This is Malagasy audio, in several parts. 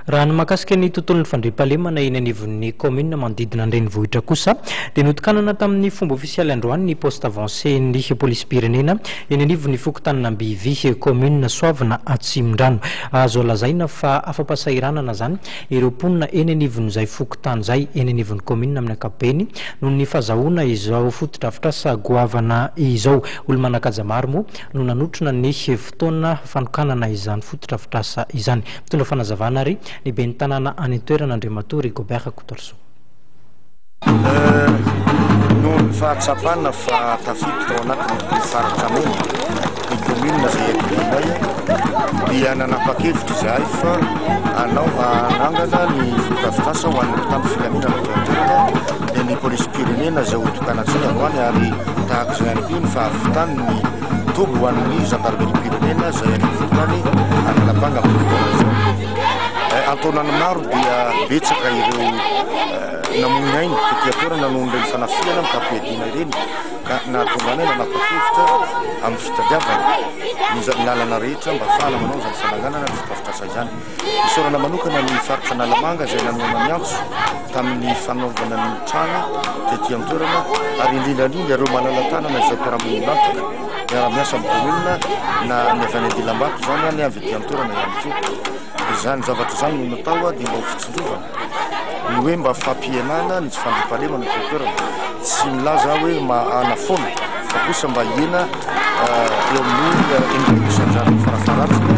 Raha ny mahakasika ny tontolon'ny fandriampahalemana eny anivon'ny kaominina manodidina ny renivohitra kosa dia notokanana tamin'ny fomba ofisialy androany ny poste avancé-n'ny polisim-pirenena eny anivon'ny fokontanin'Ambivy, kaominina Soavina Atsimondrano. Azo lazaina fa afa-pahasahiranana izany ireo mponina eny anivon'izay fokontany izay, eny anivon'ny kaominina amin'ny ankapobeny, noho ny fahazahoana izao fotodrafitrasa goavana izao. Olo-manan-kaja maro moa no nanotrona ny. fotoana fanokanana izany fotodrafitrasa izany. Mitondra fanazavana ary ny ben'ny tanàna any an-toerana Andriamatoa Rigobert Kotorsoa. Noho ny fahatsapana fa tafiditra ao anatin'ny torofaritra mena ny kaominina izay iadidianay dia nanapa-kevitra izahay fa hanao hanangana ny fotodrafitrasa ho an'ny mpitandro filaminana aty an-toerana ny polisim-pirenena izay hotokanantsika androany ary tahaka izay ihany koa ny fahavitan'ny Toby ho an'ny zandarimeriam-pirenena izay any anivon-tany Analabanga amin'izao fotoana izao. Antaonany maro dia betsaka ireo namoy aina taty an-toerana noho ireny fanafihana mitam-piadiana ireny ka nahatonga anay nanapa-kevitra amin'ny fitadiavana ny lalana rehetra mba hahafahana manao izany fananganana ny fotodrafitrasa izany. Isaorana manokana ny faritra Analamanga izay nanohana ny antso tamin'ny fanaovana ny trano tety an-toerana ary indrindra indrindra ireo malala-tanana izay mpiara-monina miara-miasa amin'ny kaominina na ny avy any an-dilam-bato izany na ny avy ety an-toerana ihany koa. Izany zavatra izany no natao dia mba ho fitsinjovana. Ny hoe mba fampihenana ny tsy fandriampahalemana ety an-toerana, tsy milaza aho hoe mahana foana fa kosa mba hihena eo amin'ny enimpolo isanjaton'ny farafaharatsiny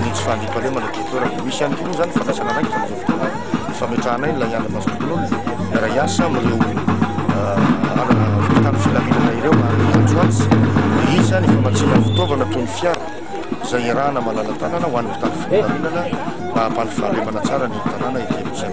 ny tsy fandriampahalemana ety an-toerana. Misy ihany koa moa izany ny fandraisana andraikitra amin'izao fotoana ny fametrahanay ilay andry masom-bonin'olona miara hiasa amin'ireo mpitandro filaminana ireo ary antsoantso miisa ny famatsiana fitaovana toy ny fiara. izay iarahana manana tanana ho an'ny mpitandro filaminana mba hampandry fahalemana tsara ny tanàna ity amin'izay.